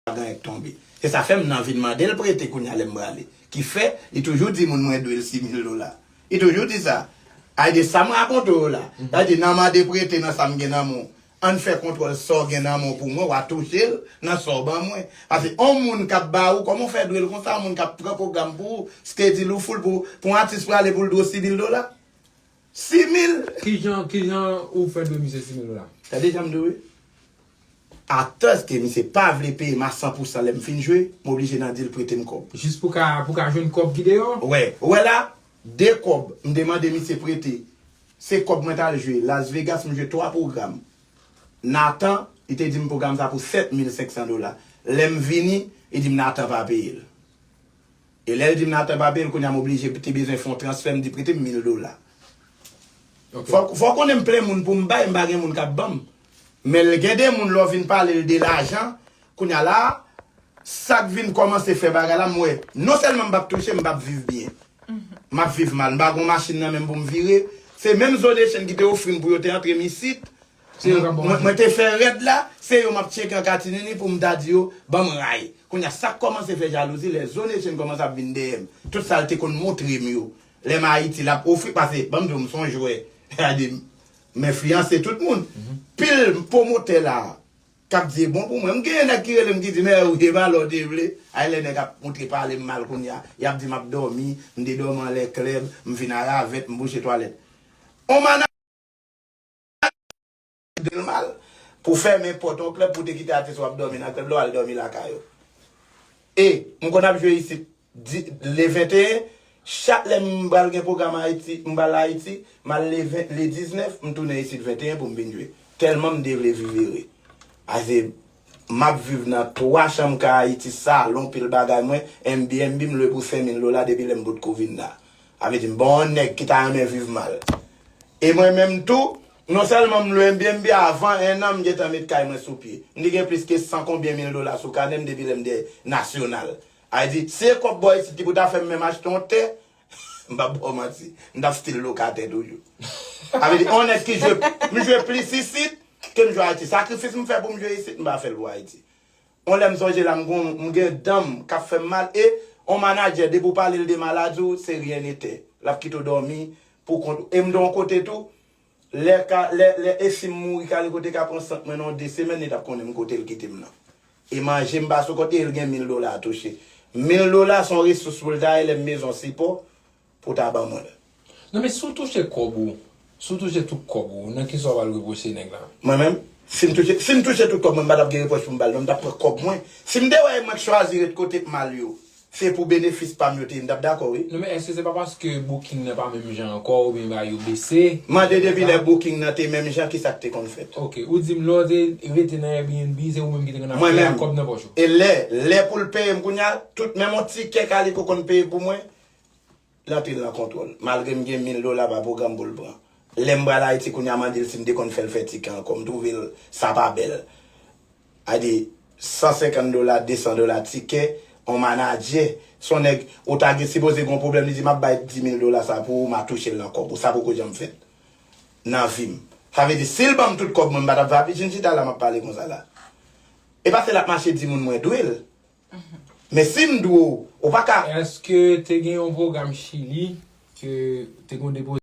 Ladan et tonbe. Se sa fè m nan vin mande l prete kounya lè m prale. Ki fè, li toujou di moun mwen dwe l si mil dola. Li toujou di sa. Ay de sa m rakonte w yo la. Sa di nan mande prete nan sa m gen nan men w. An n fè kontwòl sa w gen nan men w pou mwen, w a touche l nan sa w ban mwen. Pase on moun k ap ba ou, kòman w fè dwe l konsa on moun k ap pran pwogram pou ou? Skedil ou foul pou pou on atis prale pou l dwe w si mil dola? Simil! Kijan kijan ou fè dwe misye simil la. Tande janm diw wi. Actors ke misye pa vle peye m a 100 pou 100 lè m fin jwe, m oblije nan dil prete m kòb. Jis pou ka pou ka jwenn kòb ki deyò? Wè, ou wè la, 2 kòb m te mande misye prete, se kòb mwen t al jwe Las Vegas m jwe 3 pwogram. Nathan, li te di m pwogram sa pou 7500 dola. Lè m vini, li di m Nathan pa peye l. E lèl dim Nathan pa peyel kounya m oblije te bezwen fon transfè m di prete m 1000 dola fòk fòw konnen m plen moun poum bay m pa gen moun kap banm men l gen de moun lè w vin palel de lajan kounya la sak vin kòmanse fè bagay la m wè non sèlman m pap touche m pap viv byen map viv mal m pa gon machin nan menm poum vire se menm zo de chen ki te ofri m pou yo te antre m isit Se yo kap baw manje. Mwen te fè rèd la, se yo map tcheke an katinini poum ta di yo banm ray. Kounya sak kòmanse fè jalouzi lè zone Etienne kòmanse ap vin dèyèm. Tout sal te konn montrem yo lèm Ayiti lap ofri pase banm diw mson jwè gade m enfliyanse tout moun. Pil pwomotè la kap di e bon pou mwen. M genyen nèg ki relem ki di men ou e pa lè ou te vle. Ay lè nèg ap montre palem mal kounya yap di map dòmi, m te dòmi anlè klèb, m vin a ravèt, m bouche twalèt. On manager. Mwen tande l mal. Pou fèmen pòt yon klèb pou te kite atis ou ap dòmi nan klèb la ou al dòmi lakay ou. E, m konn ap jwe isit le 21, chak lè m pral gen pwogram Ayiti, m pral Ayiti, m al le 20, le 19, m tounen isit 21 pou m vin jwe. Tèlman m te vle viv ere. Pase Map viv nan 3 chanm ka ayiti salon pil bagay mwen NB NB m lwe pou 5 mil dola depi lèm potko vin la a vle di m bon nèg ki ta renmen viv mal e mwen menm tou non sèlman m lwe NB NB avan 1 an m gentan met kay mwen sou pye m te gen plis ke san konbyen mil dola sou kanèm depi lèm te nasyonal a vle di si e kòb bò isit ki pou ta fèm menm achte yon tè M pap baw manti, m tap stil lokatè toujou. Sa vle di, on nèg ki jwe, m jwe plis isit ke m jwe Ayiti. Sakrifis m fè pou m jwe isit, m pa fè l pou Ayiti. On lè m sonje la m gon, m gen dan m k ap fè m mal e on manadjè depi w pale l de maladi w se ryen nete. L ap kite w dòmi pou kont ou. E m te on kote tou, Lè ka lè lè e sim mouri kale kote ka pran sant mwen nan yon 2 semèn li tap konnen m kotel kitem nan e manje m pa sou kont e el gen mil dola a touche mil dola son resous poul ta elèm bezwen sipò pou ta ban mwen l. Non men si w touche kòb ou si w touche tout kòb ou nan kisa w pral repwoche nèg la. Mwen menm sim touche sim touche tout kòb mwen m patap gen repwòch pou m bal non m tap pran kòb mwen sim te wè e mwen k chwazi ret kote k mal yo. Se pou benefis pam yo te ye m tap dakò wi. Non men eske se pa paske booking nan pa menm jan ankò oubyen bagay yo bese? Mande depi lè booking nan te menm jan kisak te konn fèt. Ok ou dim lè ou te rete nan Airbnb se ou menm ki te konn ap peye ak kòb nan pòch ou. E lè lè poul peyem kounya tout menm on tikè kaliko konn peye pou mwen. Nan pi gran kontwòl. Malgre m gen mil dola pa pwogram pou l pran. Lè m pral Ayiti kounye a mande l si m te konn fè l fè ti kan ankò. M twouve l sa pa bèl. A di, 150 dola, 200 dola tikè on manadjè. S on nèg ou ta gen sipoze gen on pwoblèm li di m ap bay 10 mil dola sa pou ou m a touche l nan kòb ou. Sa poko janm fèt nan vi m. Sa vle di si l ban m tout kòb mwen m pa t ap vin chita la m ap pale konsa la. E pa se l ap mache di moun mwen dwe l. Men sim dwe w ou pa ka. Eske te gen yon program chili ke te gen yon depo.